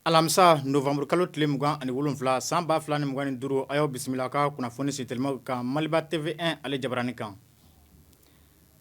Alamisa nowanburu kalo tile mugan ani wolonwula san ba fila ni mugan ni duuru a y'aw bisimila ka kunnafoni ci teliman kan maliba TV1 ale jabaranin kan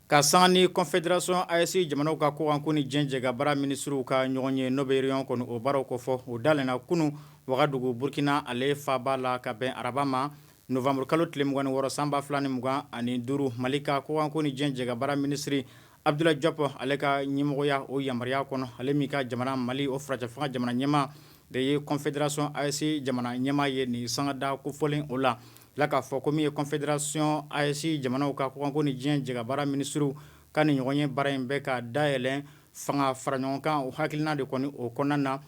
Ka sanga ni Confédération AES jamanaw ka kɔkanko ni diɲɛ jɛkabaara minisiriw ka ɲɔgɔn ye n'o bɛ réunion kɔni o baaraw kɔ fɔ o dayɛlɛnna kunun wagadugu burukina ale faaba la ka bɛn araba ma nowanburu kalo tile mugan ni wɔɔrɔ san ba fila ni mugan ani duuru mali ka kɔkanko ni diɲɛ jɛkabaara minisiri Abdoulaye Diop ale ka ɲɛmɔgɔya o yamaruya kɔnɔ ale min ka jamana mali o furancɛfanga jamana ɲɛmaa de ye Confédération AES jamana ɲɛmaa ye nin sanga da kofɔlen o la La k'a fɔ ko min ye Confédération AES jamanaw ka kɔkanko ni diɲɛ jɛkabaara minisiriw ka nin ɲɔgɔn ye baara in bɛ ka dayɛlɛn fanga fara ɲɔgɔn kan o hakilina de kɔni o kɔnɔna na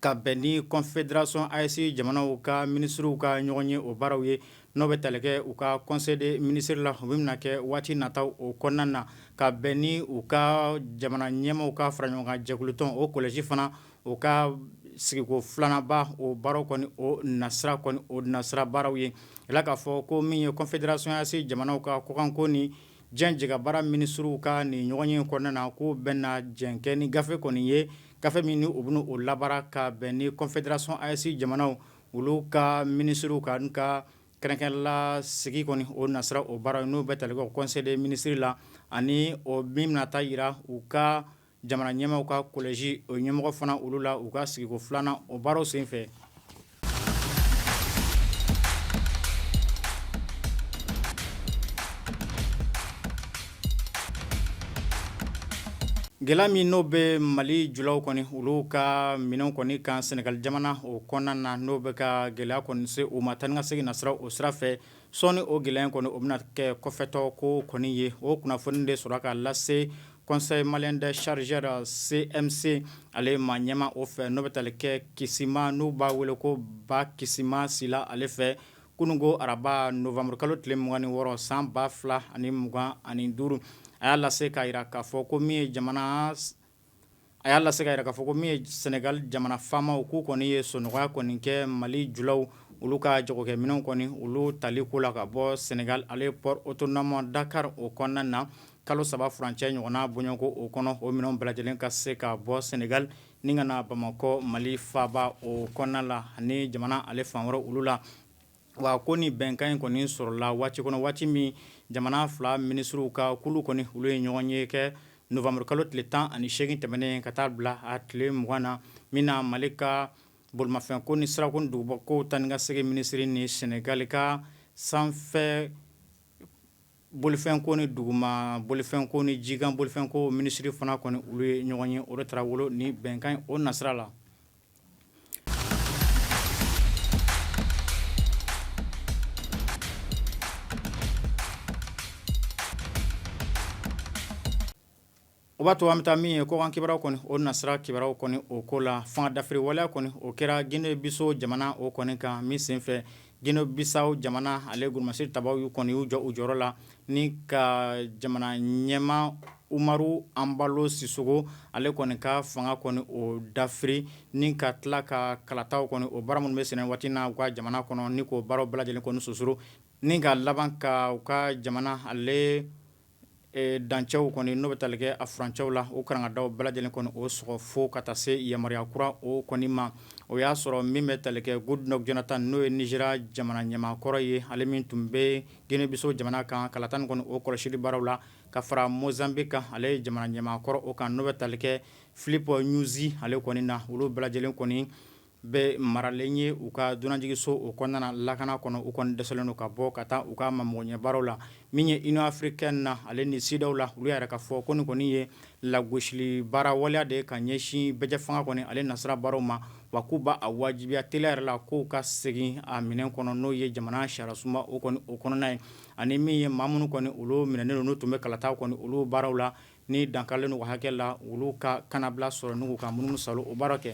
ka bɛn ni Confédération AES jamanaw ka minisiriw ka ɲɔgɔn ye o baaraw ye n'o bɛ tali kɛ u ka conseil des ministres la o min bɛna kɛ waati nataw o kɔnɔna na ka bɛn ni u ka jamana ɲɛmaaw ka fara ɲɔgɔn kan jɛkulutɔn o collège fana o ka sigiko filananba o baaraw kɔni o nasira kɔni o nasira baaraw ye a la k'a fɔ ko min ye Confédération AES jamanaw ka kɔkanko ni diɲɛ jɛkabaara minisiriw ka nin ɲɔgɔn ye kɔnɔna na ko u bɛna jɛn kɛ ni gafe kɔni ye gafe min ni u bɛna o labaara ka bɛn ni Confédération AES jamanaw olu ka minisiriw ka ka kɛrɛnkɛrɛnna sigi kɔni o nasira o baara n'o bɛ tali kɛ conseil des ministres la ani o min bɛna taa jira u ka jamana ɲɛmaaw ka collège o ɲɛmɔgɔ fana olu la u ka sigiko filanan o baaraw senfɛ gɛlɛya min n'o bɛ mali julaw kɔni olu ka minɛnw kɔni kan sɛnɛgali jamana o kɔnɔna na n'o bɛ ka gɛlɛya kɔni se u ma taa ni ka segin nasira o sira sɔɔni o gɛlɛya kɔni o bɛna kɛ kɔfɛtɔ ko kɔni ye o kunnafoni de sera ka lase Conseil malien des chargeurs CMC ale maa ɲɛmaa o fɛ n'o bɛ tali kɛ kisima n'u b'a wele ko ba kisima sila ale fɛ kunun ko araba nowanburu kalo tile mugan ni wɔɔrɔ san ba fila ani mugan ani duuru a y'a lase k'a jira k'a fɔ ko min ye jamana a y'a lase k'a jira k'a fɔ ko min ye sɛnɛgali jamana faamaw k'u kɔni ye sɔnɔgɔya kɔni kɛ mali julaw olu ka jagokɛminɛnw kɔni olu tali ko la ka bɔ sɛnɛgali ale port autonome Dakar o kɔnɔna na kalo saba furancɛ ɲɔgɔnna bɔɲɔgɔnko o kɔnɔ o minɛnw bɛɛ lajɛlen ka se ka bɔ sɛnɛgali ni ka na bamakɔ mali faaba o kɔnɔna la ani jamana ale fan wɛrɛ olu la Wa ko ni bɛnkan in kɔni sɔrɔla waati kɔnɔ waati min jamana fila minisiriw ka kulu kɔni olu ye ɲɔgɔn ye kɛ nowanburu kalo tile tan ani segin tɛmɛnen ka taa bila a tile mugan na min na mali ka bolimafɛn ko ni sirako ni dugubɔ ko taa ni ka segin minisiri ni sɛnɛgali ka sanfɛ Bolifɛn ko ni duguma bolifɛn ko ni jikan bolifɛn ko minisiri fana kɔni olu ye ɲɔgɔn ye o de taara wolo ni bɛnkan o nasira la O b'a to an bɛ taa min ye kɔkan kibaruyaw kɔni o nasira kibaruyaw kɔni o ko la fanga dafiri waleya kɔni o kɛra gine bisawo jamana o kɔni kan min senfɛ gine bisawo jamana ale golomasiri tabaw y'u kɔni y'u jɔ u jɔyɔrɔ la ni ka jamana ɲɛmaa umaru anbalo sisoko ale kɔni ka fanga kɔni o dafiri ni ka tila ka kalataw kɔni o baara minnu bɛ senna waati n' u ka jamana kɔnɔ ni k'o baara bɛɛ lajɛlen kɔni susuru ni ka laban ka u ka jamana ale dancɛw kɔni n'o bɛ tali kɛ a furancɛw la o karangadaw bɛɛ lajɛlen kɔni o sɔgɔ fo ka taa se yamaruya kura o kɔni ma o y'a sɔrɔ min bɛ tali kɛ gudulɔki jonatan n'o ye nizeriya jamana ɲɛmaakɔrɔ ye ale min tun bɛ gine bisawo jamana kan kalata nin kɔni o kɔlɔsili baaraw la ka fara mozanbiki kan ale ye jamana ɲɛmaakɔrɔ o kan n'o bɛ tali kɛ filipi ɲuzi ale kɔni na olu bɛɛ lajɛlen kɔni bɛ maralen ye u ka dunanjiginso o kɔnɔna lakana kɔnɔ u kɔni dɛsɛlen ka bɔ ka taa u ka ma magoɲɛ baara la min ye union africaine na ale ni sedeyawo la olu yɛrɛ ka fɔ ko nin kɔni ye lagosili baara waleya de ye ka ɲɛsin bɛɛjɛ fanga kɔni ale nasira baaraw ma wa k'u b'a wajibiya teliya yɛrɛ la k'u ka segin a minɛn kɔnɔ n'o ye jamana sariyasunba o o kɔnɔna ye ani min ye maa minnu kɔni olu minɛnen don n'u tun bɛ kalataw kɔni olu baaraw la ni dankarilen hakɛ la olu ka kanabila sɔrɔ n'u ka munumunu saalo baara kɛ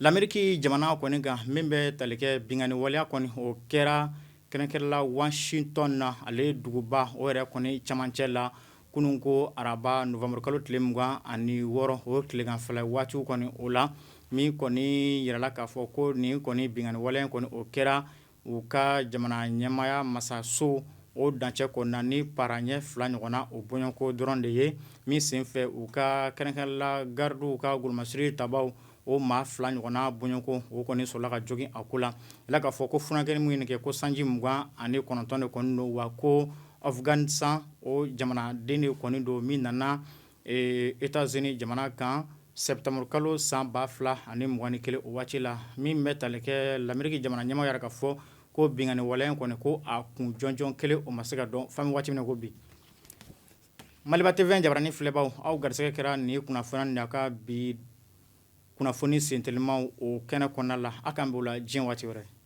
Lamɛriki jamana kɔni kan min bɛ tali kɛ binkanni waleya kɔni o kɛra kɛrɛnkɛrɛnla wasitɔn na ale duguba o yɛrɛ kɔni camancɛ la kunun ko araba nowanburukalo tile mugan ani wɔɔrɔ o tileganfɛla waatiw kɔni o la min kɔni yirala k'a fɔ ko nin kɔni binkanni waleya kɔni o kɛra u ka jamana ɲɛmaya masaso o dancɛ kɔnɔna ni para ɲɛ fila ɲɔgɔn na o bɔɲɔgɔnko dɔrɔn de ye min senfɛ u ka kɛrɛnkɛrɛnla garidiw ka golomasiri tabaw o maa fila ɲɔgɔnna bɔɲɔgɔnko o kɔni sɔrɔla ka jogin a ko la yirala k'a fɔ ko funankɛ min ye nin kɛ ko sanji mugan ani kɔnɔntɔn de kɔni don wa ko afganisitan o jamanaden de kɔni don min nana Etazini jamana kan sɛtanburukalo san ba fila ani mugan ni kelen o waati la min bɛ tali kɛ lameriki jamana ɲɛmaa yɛrɛ ka fɔ ko binkanni waleya kɔni ko a kun jɔnjɔn kelen o ma se ka dɔn fo nin waati min ko bi Maliba TV jabaranin filɛbaw aw garisɛgɛ kɛra nin kunnafoni na a ka bi kunnafoni sentelimaw o kɛnɛ kɔnɔna la an kan b'o la diɲɛ waati wɛrɛ